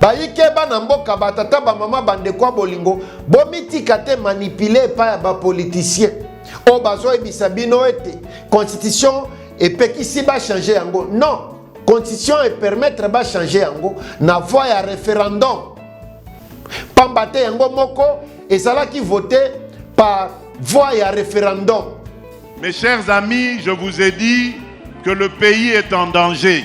Bayike bana mboka ba tata ba mama ba ndeko ya bolingo bomitika te manipule epai ya ba politiciens oyo bazoyebisa bino ete constitution epekisi bachange yango non constitution epermettre bachange yango na voi ya referendum pamba te yango moko ezalaki vote par voi ya referendum mes chers amis je vous ai dit que le pays est en danger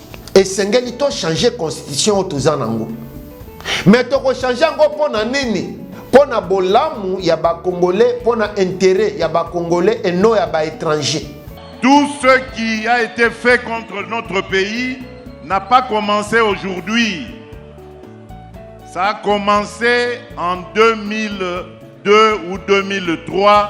esengeli to changer constitution oyo toza nango me tokochange yango mpo na nini mpo na bolamu ya bakongole mpo na intere ya bakongole eno ya baétranger tout ce qui a été fait contre notre pays n'a pas commencé aujourd'hui ça a commencé en 2002 ou 2003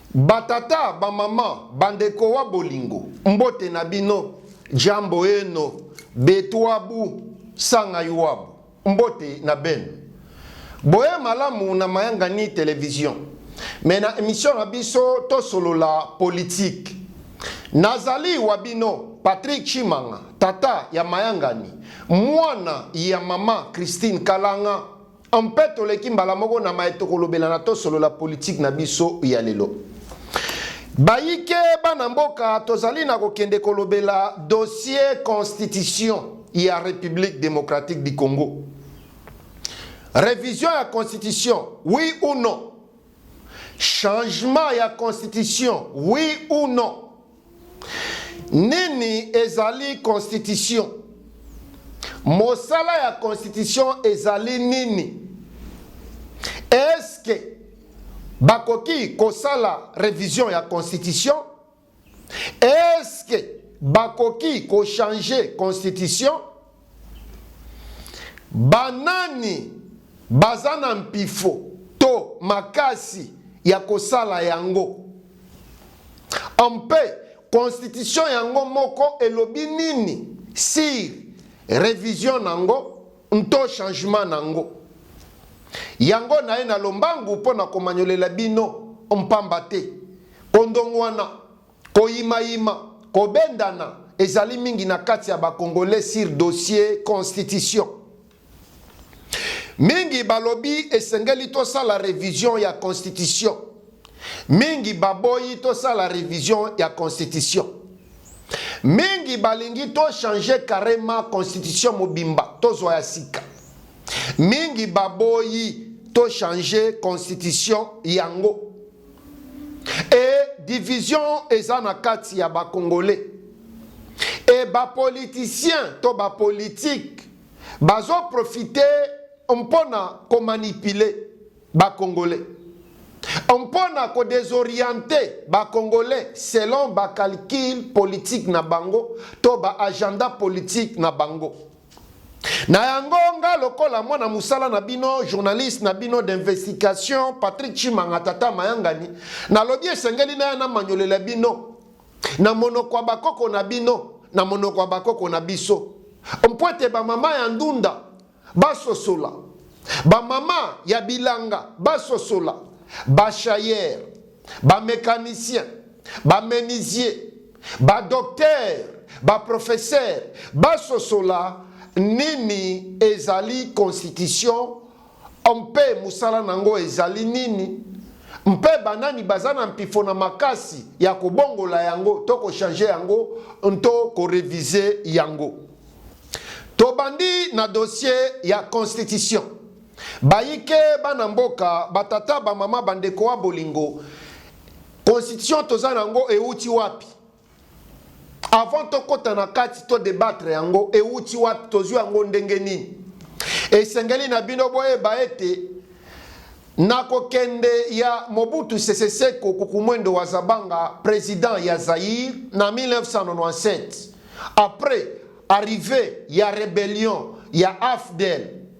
Ba tata, ba maman, ba ndeko wa bolingo, mbote na bino, jambo eno, betuabu, sanga yuabu, mbote na beno. Boye malamu na Mayangani Television. Mais na emission na biso to solola politique. Na zali wa bino Patrick Tshimanga, tata ya Mayangani, muana ya maman Christine Kalanga. Mpe toleki mbala moko na maye tokolobelana tosolola politiki na biso ya lelo. Bayike bana mboka, tozali na kokende kolobela dossier constitution ya Republique democratique du Congo. Revision ya constitution, oui ou non? Changement ya constitution, oui ou non? Nini ezali konstitisyo? Mosala ya konstitisyo ezali nini? Eske bakoki kosala revision ya konstitisyo? Eske bakoki kochange konstitisyo? Banani baza na mpifo to makasi ya kosala yango? Mpe Konstitisyo yango moko elobi nini sur revision nango nto changement nango? Yango naye na lombangu mpo na komanyolela bino mpamba te, kondongwana. Koyimayima, kobendana ezali mingi na kati ya ba Congolais sur dossier constitution. Mingi balobi esengeli tosala revision ya constitution. Mingi baboyi tosala revision ya constitution. Mingi balingi to changer carrement constitution mobimba tozwa ya sika. Mingi baboyi to changer constitution yango. et division eza na kati ya ba congolais et ba politiciens to ba politique bazo profite mpona ko manipuler ba congolais mpona ko desorienter ba congolais selon ba calcul politique na bango to ba agenda politique na bango Na yango nga lokola mwana musala na bino journaliste na bino d'investigation Patrick Chimanga tata mayangani nalobi esengeli naya na manyolela bino na monoko ya bakoko na bino na monoko ya bakoko na biso mpo ete bamama ya ndunda basosola bamama ya bilanga basosola bashayere bamecanicien bamenisier Badoktere, baprofesere basosola nini ezali Konstitisyo mpe mosala na yango ezali nini, mpe banani baza na mpifo na makasi ya kobongola yango to kochange yango nto korevise yango. Tobandi na dosye ya Konstitisyo. Bayike, bana mboka, batata, bamama, bandeko ya bolingo, Constitution toza na yango ewuti wapi? Avant tokota na kati to debattre yango ewuti wapi? Tozwi yango ndenge nini? Esengeli na bino boyeba ete na kokende ya Mobutu Sese Seko Kukumwendo wa Zabanga, president ya Zaire na 1997 après arrivee ya rebellion ya AFDL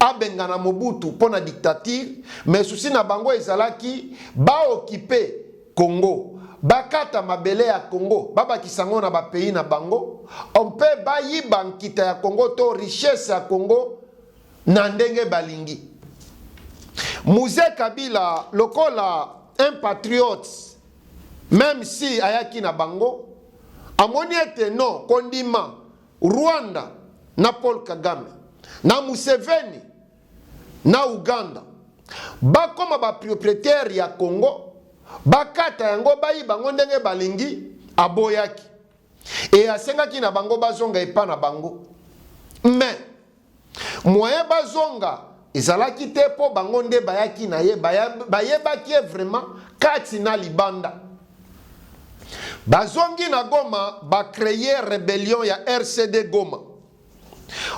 abengana Mobutu mpo na dictature, mais souci na bango ezalaki ba occuper Congo, bakata mabele ya Congo babakisa yango na ba pays na bango, mpe bayiba nkita ya Congo to richesse ya Congo na ndenge balingi. Muze Kabila lokola un patriote, meme si ayaki na bango, amoni ete non, kondima Rwanda na Paul Kagame na Museveni na Uganda bakoma ba proprietaire ya Congo, bakata yango bayiba yango ndenge balingi, aboyaki e asengaki na bango bazonga epa na bango mais Moyen bazonga ezalaki te mpo bango nde bayaki na ye, bayebaki ye vraiment kati na libanda. Bazongi na Goma, ba cree rebellion ya RCD Goma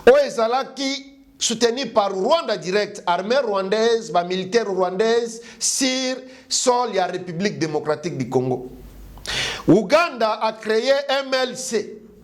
oyo ezalaki soutenu par Rwanda direct, armee rwandaise, ba militaire rwandaise sur sol ya Republique democratique du Congo. Uganda a cree MLC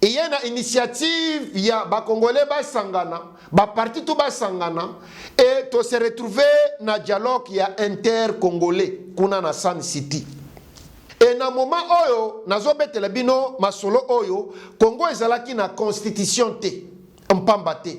eye na initiative ya ba congolais basangana ba parti tout basangana et to se retrouver na dialogue ya inter congolais kuna na Sun City e na moment oyo nazobetela bino masolo oyo congo ezalaki na constitution te mpamba te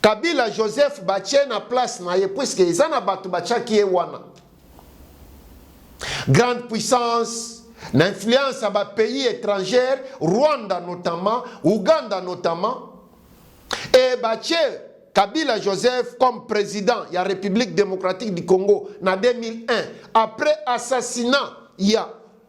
Kabila Joseph batie na place na ye puisque eza na bato batiaki ye wana. Grande puissance na influence ya ba pays étrangers, Rwanda notamment, Ouganda notamment, et batie Kabila Joseph comme président ya République démocratique du Congo na 2001 après assassinat ya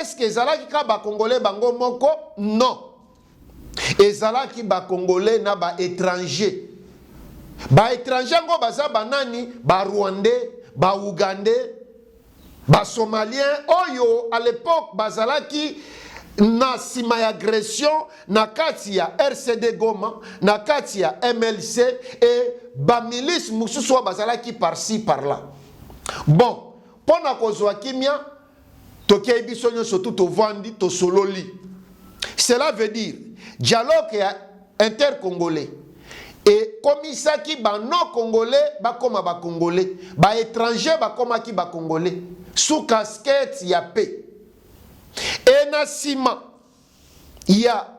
Est ce que ezalaki ka ba congolais bango moko? Non. Ezalaki ba congolais na ba étrangers. Ba étrangers yango baza banani? Ba rwandais, ba ougandais, ba somaliens oyo à l'époque bazalaki na nsima ya agression na kati ya rcd goma na kati ya mlc e bamilice mosusu oyo bazalaki parci par là bon Mpo na kozwa kimia, tokei biso nyonso tu tovandi tosololi. Cela veut dire dialogue ya intercongolais ekomisaki banon congolais bakoma bacongolais, baetranger bakomaki bacongolais sous casquette ya paix. E na sima ya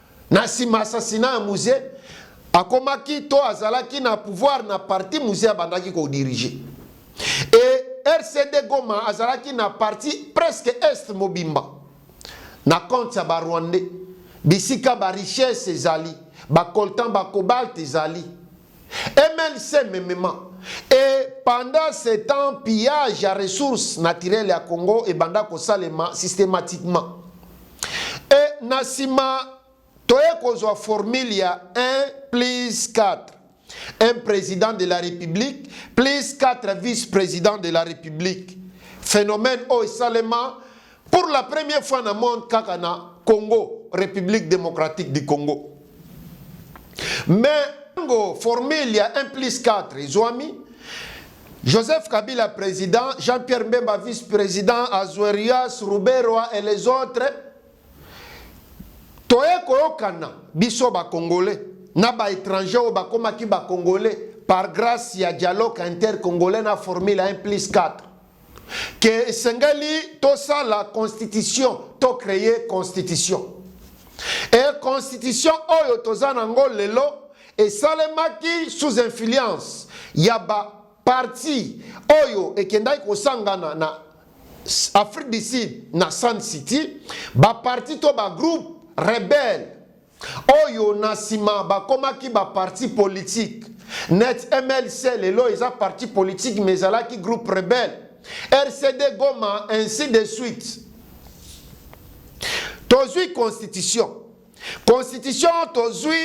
Na sima assassinat ya Muze, akomaki to azalaki na pouvoir na parti Muze abandaki ko diriger. Et RCD Goma azalaki na parti presque Est mobimba na compte ya ba Rwandais, bisika ba richesses ezali, ba coltan, ba cobalt ezali. MLC memema et pendant ce temps pillage ya ressources naturelles ya Congo ebanda kosalema systematiquement et na sima toye kozwa formule ya 1 plus 4 un président de la République plus 4 vice-présidents de la République. Phénomène oyo esalema Pour la première fois na monde kaka na Congo, République démocratique du Congo. Mais tango formule ya 1 plus 4 ezwami, Joseph Kabila président, Jean-Pierre Mbemba vice-président, Azuerias, Ruberwa et les autres, toye koyokana biso bakongole na baétranger oyo bakomaki bakongole par grâce ya dialogue intercongolais na formule ya 1 plus 4 que esengeli tosala constitution to cree constitution e constitution oyo toza nango lelo esalemaki sous influence ya ba parti oyo ekendaki kosangana na Afrique du Sud na Sun City, ba parti to ba groupe rebelle Oyo na sima bakomaki ba parti politique net MLC lelo eza parti politique mais ezalaki groupe rebelle RCD Goma ainsi de suite. Tozwi constitution. Constitution tozwi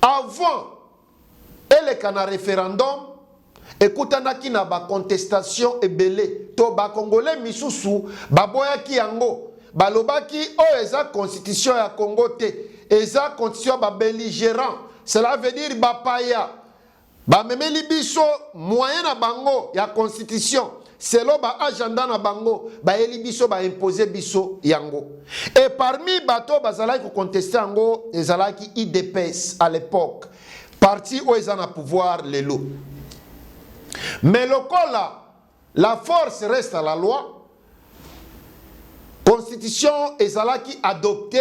avant eleka na referendum ekutanaki na ba contestation ebele to ba congolais misusu baboyaki yango balobaki oyo eza constitution ya Congo te eza constitution ya ba belligerant cela veut dire bapaya bamemeli biso moyen na bango ya constitution selon ba agenda na bango bayeli biso ba impose biso yango et parmi bato bazalaki koconteste yango ezalaki idps à l'époque parti oyo eza na pouvoir lelo mais lokola la force reste à la loi constitution ezalaki adoptée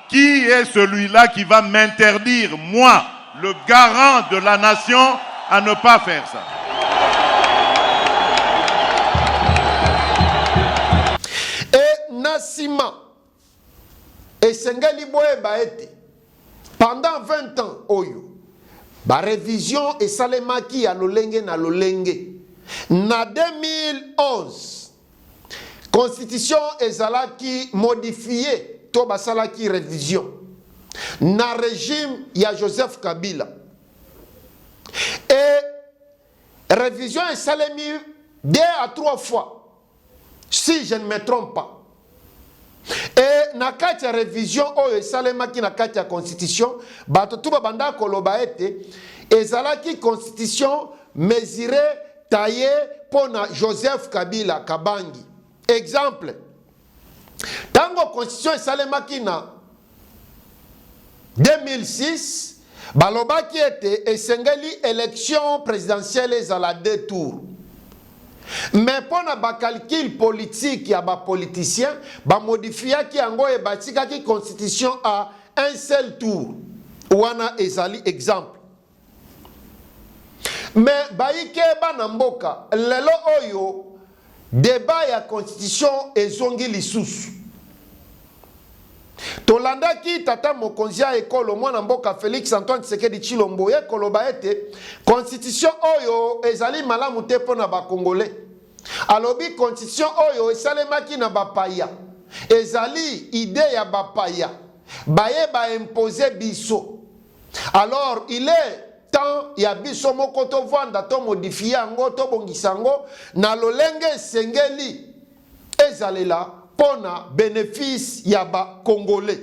Qui est celui-là qui va m'interdire, moi, le garant de la nation, à ne pas faire ça? Et na nsima esengeli boyeba ete pendant 20 ans oyo barevision esalemaki ya lolenge na lolenge na 2011 constitution ezalaki modifie to basalaki revision na regime ya Joseph Kabila e revision esalemi deux à trois fois si je ne me trompe pas E, na kati ya revision oyo esalemaki na kati ya constitution, bato tu babanda koloba ete ezalaki constitution mesure taye mpo na Joseph Kabila Kabangi. Exemple, ntango constitution esalemaki na 2006, balobaki ete esengeli election presidentielle ezala deux tours. Mais mpo na ba calculs politiques ya ba politiciens, ba modifiaki yango et batikaki constitution à un seul tour. Wana ezali exemple. Mais baike bana mboka lelo oyo debat ya constitution ezongi lisusu. Tolandaki tata mokonzi ya ekolo mwana mboka Felix Antoine Tshisekedi Tshilombo ye koloba ete constitution oyo ezali malamu te mpo na ba Congolais. Alobi constitution oyo esalemaki na bapaya ezali idee ya bapaya baye ba imposer biso. alors il est temps ya biso moko tovanda tomodifie yango tobongisa yango na lolenge esengeli ezalela mpo na benefisi ya bakongole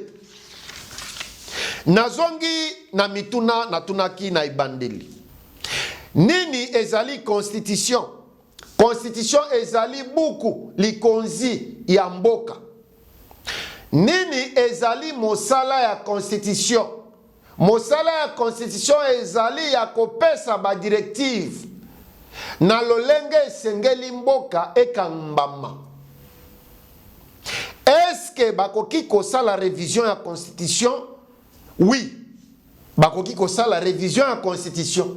nazongi na mituna natunaki na ebandeli nini ezali constitution constitution ezali buku likonzi ya mboka Nini ezali mosala ya Konstitisyo? Mosala ya Konstitisyo ezali ya kopesa ba directives na lolenge esengeli mboka ekambama. Est-ce que bakoki kosala revision ya Konstitisyo? Oui, bakoki kosala revision ya Konstitisyo.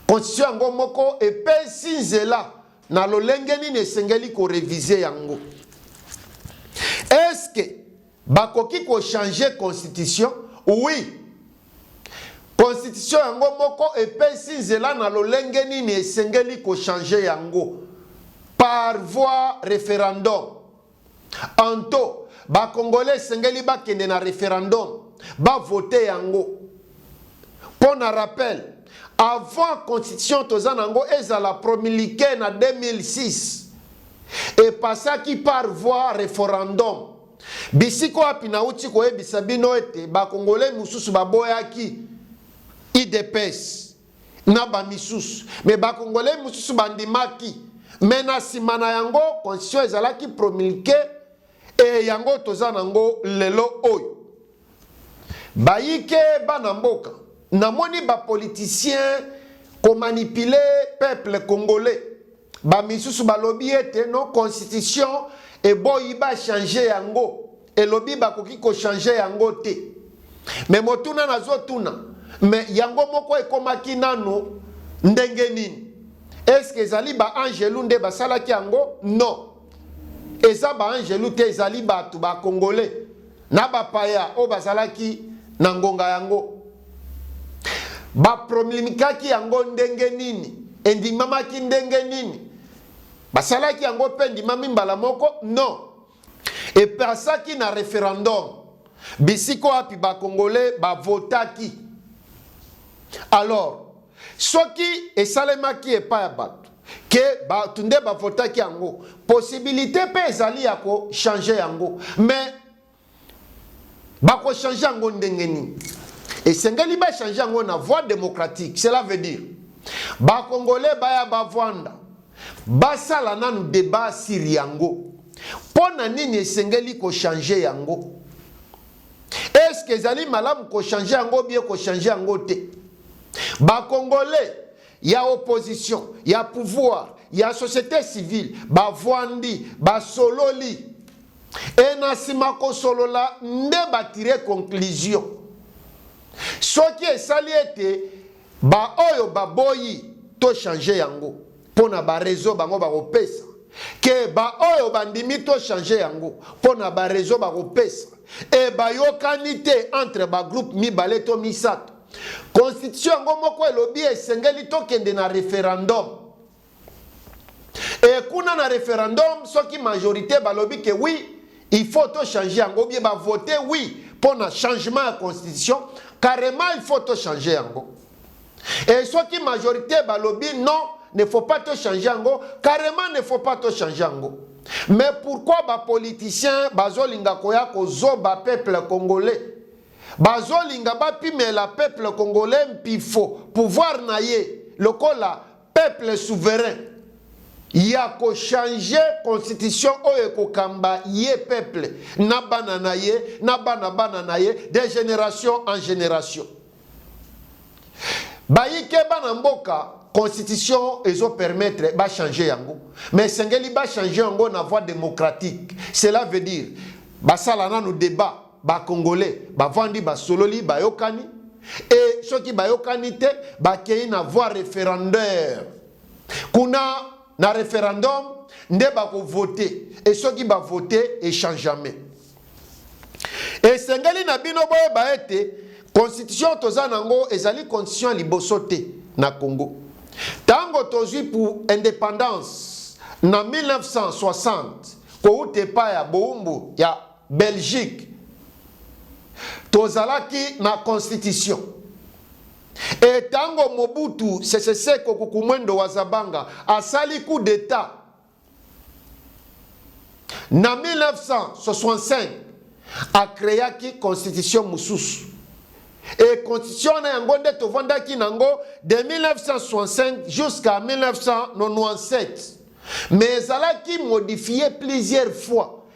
Konstitisyo yango moko epesi nzela Na lolenge nini esengeli ko reviser yango? Est-ce que bakoki ko changer constitution? Oui. Constitution yango moko epesi nzela na lolenge nini esengeli ko changer yango par voie referendum. Anto ba congolais esengeli bakende na referendum ba vote yango mpo na rappel avant constitution toza na yango ezala promulguee na 2006 epasaki par voie referendum bisika wapi nauti koyebisa bino ete bakongole mosusu baboyaki idps na ba misusu mais ba congolais mususu ba ndimaki mais na sima na yango constitution ezalaki promulque et yango toza na ngo lelo oyo bayike bana mboka namoni ba politiciens ko manipuler peuple congolais Ba misusu balobi ete no constitution eboyi ba changer yango, elobi bakoki ko changer yango te. Mais motuna nazotuna, mais yango moko ekomaki nanu ndenge nini? Est ce que ezali ba angelu nde basalaki yango? Non, eza ba angelu te, ezali batu ba congolais na bapaya oyo bazalaki na ngonga yango baprolimikaki yango ndenge nini, endimamaki ndenge nini, basalaki yango mpe endimami mbala moko? Non, epasaki na referendum bisika wapi bakongole bavotaki. Alors soki esalemaki epai ya bato, ke bato nde bavotaki yango possibilité mpe ezali ya kochange yango mais bakochange yango ndenge nini esengeli bachange yango na voie démocratique cela veut dire bakongole baya bavwanda basala nanu débat sur yango mpo na nini esengeli kochange yango eske ezali malamu kochange yango bie kochange yango te bakongole ya opposition ya pouvoir ya société civile bavwandi basololi e na nsima kosolola nde batire conclusion soki esali ete baoyo baboyi to change yango mpo na barezo bango bakopesa ke baoyo bandimi to change yango mpo na barezo bakopesa e bayokani te entre bagroupe mibale to misato Constitution yango moko elobi esengeli tokende na referendum. Et kuna na referendum soki majorité balobi que oui, il faut to changer yango bien ba voter oui pour na changement ya constitution, carrément il faut to changer yango. Et soki majorité balobi non, ne faut pas to changer yango, carrément ne faut pas to changer yango. Mais pourquoi ba politiciens bazolinga koya kozoba peuple congolais Bazo linga ba pimela peuple congolais mpifo pouvoir na ye lokola peuple souverain yako change constitution oyo eko kamba ye peuple na bana na ye na bana bana na ye de generation en generation. Ba yike bana mboka constitution ezo permettre ba change yango mais esengeli ba change yango na voie democratique cela veut dire ba sala nanu debat ba congolais bavandi basololi bayokani e soki bayokani te bakei na voie referendaire kuna na referendum nde bakovote e soki bavote echangeme esengeli na bino boyeba ete constitution toza na yango ezali constitution ya liboso te na congo ntango tozwi pour indépendance na 1960 kowuta epai ya bowumbu ya Belgique tozalaki na constitution e tango Mobutu Sese Seko Kukumwendo wa Zabanga asali coup d'etat na 1965 akreaki constitution mosusu e constitution wana yango nde tovandaki nango de 1965 jusqu'à 1997 mais ezalaki modifie plusieurs fois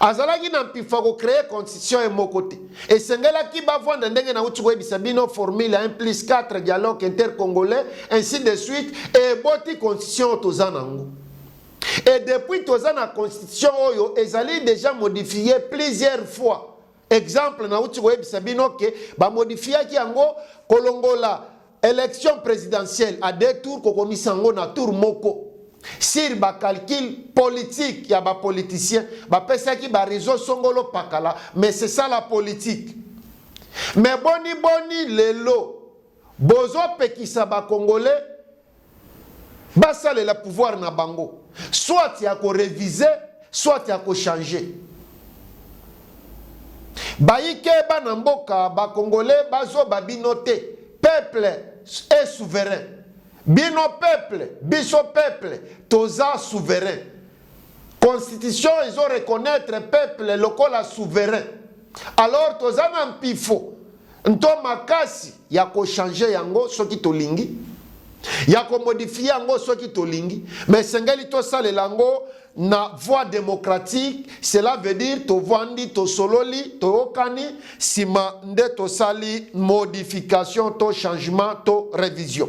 Azalaki na mpifa ko creer constitution ye moko te. Esengelaki bavanda ndenge nauti koyebisa bino formule ya 1 plus 4 dialogue intercongolais ainsi de suite eboti constitution oyo toza nango. Et depuis toza na constitution oyo ezali deja modifier plusieurs fois. Exemple nauti koyebisa bino ke ba modifiaki yango kolongola Election presidentielle à deux tours kokomisa yango na tour moko sur ba calcul politique ya ba politiciens bapesaki ba raison songolo pakala mais c'est ça la politique mais boni boni lelo bozopekisa ba congolais basalela pouvoir na bango soit ya ko reviser soit ya ko changer bayike bana mboka ba congolais bazoba bino te peuple est souverain bino peuple biso peuple toza souverain constitution ezo reconnaître peuple lokola souverain alors toza na mpifo nto makasi ya kochange yango soki tolingi ya komodifie yango soki tolingi me esengeli tosalela yango na voie démocratique cela veut dire tovandi tosololi toyokani nsima nde tosali modification to changement to révision